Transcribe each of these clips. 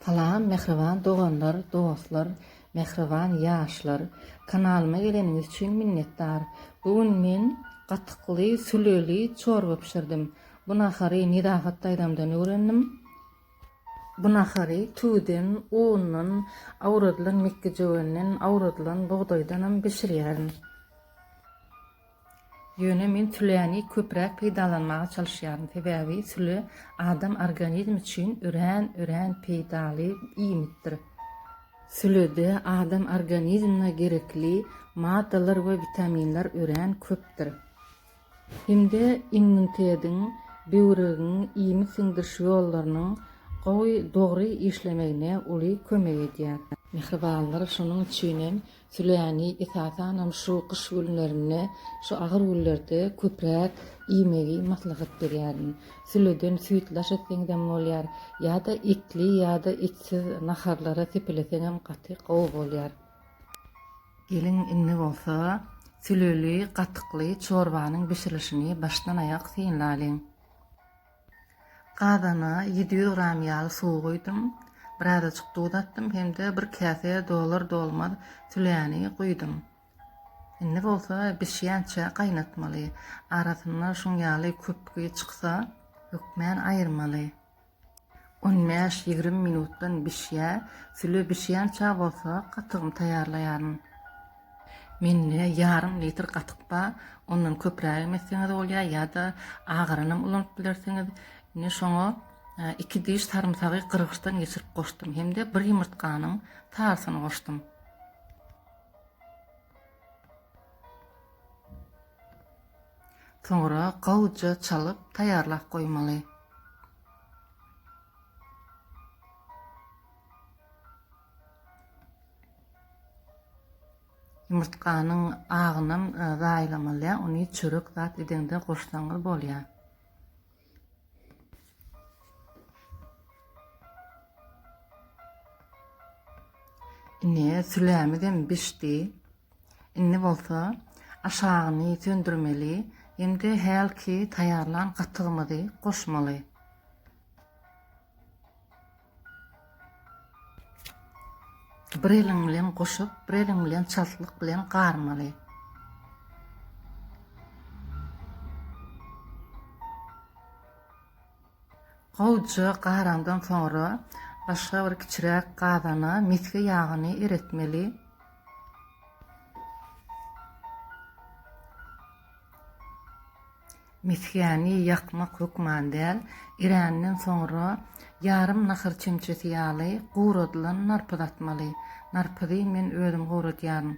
Salam mähriban doganlar dostlar mähriban ýaşlar kanalyma geleniňiz üçin minnetdar bu gün men gatykly süleli çorba bişirdim bu nahary Nedahat daýzamdan öwrendim bu nahary tüwden undan awradylan mekgejöwenden awradylan bugdaýdanam bişirýärin. Ýöne men süläni köpräk peýdalanmaga çalyşýaryn, sebäbi süle adam organizmi üçin örän, örän peýdaly iýmitdir. Sülede adam organizmine gerekli maddalar we witaminler örän köpdür. Hem-de immunitediň, böwregiň, iýmit siňdiriş ýollarynyň gowy, dogry işlemegine uly kömek edýär. Mähribanlar, şonuň üçin hem Süläni esasanam şu gyş günlerinde, şu agyr günlerde köpräk iýmegi maslahat berýärin. Süleden süýt laş etseňizem bolýar, ýa-da etli ýa-da etsiz naharlara sepeleseňem gaty gowy bolýar. Geliň, indi bolsa süleli, gatykly çorbanyň bişirilişini başdan-aýak synlalyň. Gazana ýedi ýüz gram ýaly suw guýdum. Birazajyk duz atdym hem-de bir käse dolar-dolmaz süläni guýdum. Indi bolsa bişýänçä gaýnatmaly. Arasynda şuň ýaly köpügi çyksa, hökmän aýyrmaly. On bäş, ýigrimi minutdan bişýär. Süle bişýänçä bolsa gatygymy taýýarlaýaryn. Mende ýarym litr gatyk bar. Ondan köprägem etseňiz bolýar ýa-da agaranam ulanyp bilersiňiz. Indi şoňa iki diş sarymsagy gyrgyçdan geçirip goşdum hem-de bir ýumurtganyň sarysyny goşdum. Soňra gowuja çalyp taýýarlap goýmaly. Ýumurtganyň agynam zaýalamalýar, ony çörek zat edeňde goşsaňyz bolýar. Ine, sülämizem bişdi. Indi bolsa aşagyny söndürmeli hem-de hälki taýýarlan gatygymyzy goşmaly. Bir eliň bilen goşup, bir eliň bilen çaltlyk bilen garmaly. Gowuja garaňdan soňra başga bir kiçiräk gazana mesge ýagyny eretmeli. Mesgäni ýakmak hökman däl, eränden soňra ýarym nahar çemçesi ýaly guradylan narpyz atmaly. Narpyzy men özüm guradýaryn.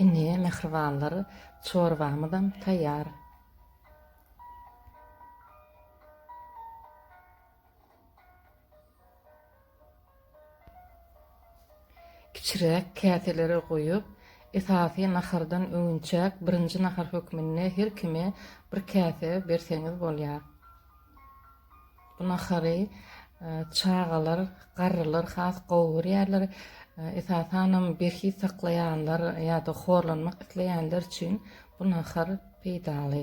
Ine, mähribanlar, çorbamyzam taýýar. Kiçiräk käselere guýup, esasy nahardan öňünçäk birinji nahar hökmünde her kime bir käse berseňiz bolýar. Bu nahary çagalar, garrylar has gowy görýärler. Esasanam berhiz saklaýanlar ýa-da horlanmak isleýänler üçin bu nahar peýdaly.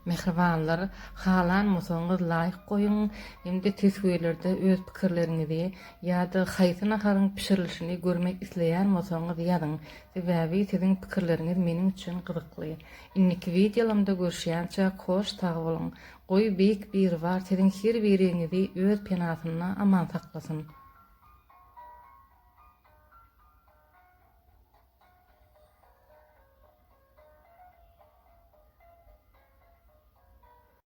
Mähribanlar, halan bolsaňyz laýk goýuň hem-de teswirlerde öz pikirleriňizi ýa-da haýsy naharyň bişirilişini görmek isleýän bolsaňyz ýazyň. Sebäbi siziň pikirleriňiz meniň üçin gyzykly. Indiki wideolamda görüşýänçäk hoş sag boluň. Goý Beýik Biribar siziň her biriňizi öz penasynda aman saklasyn.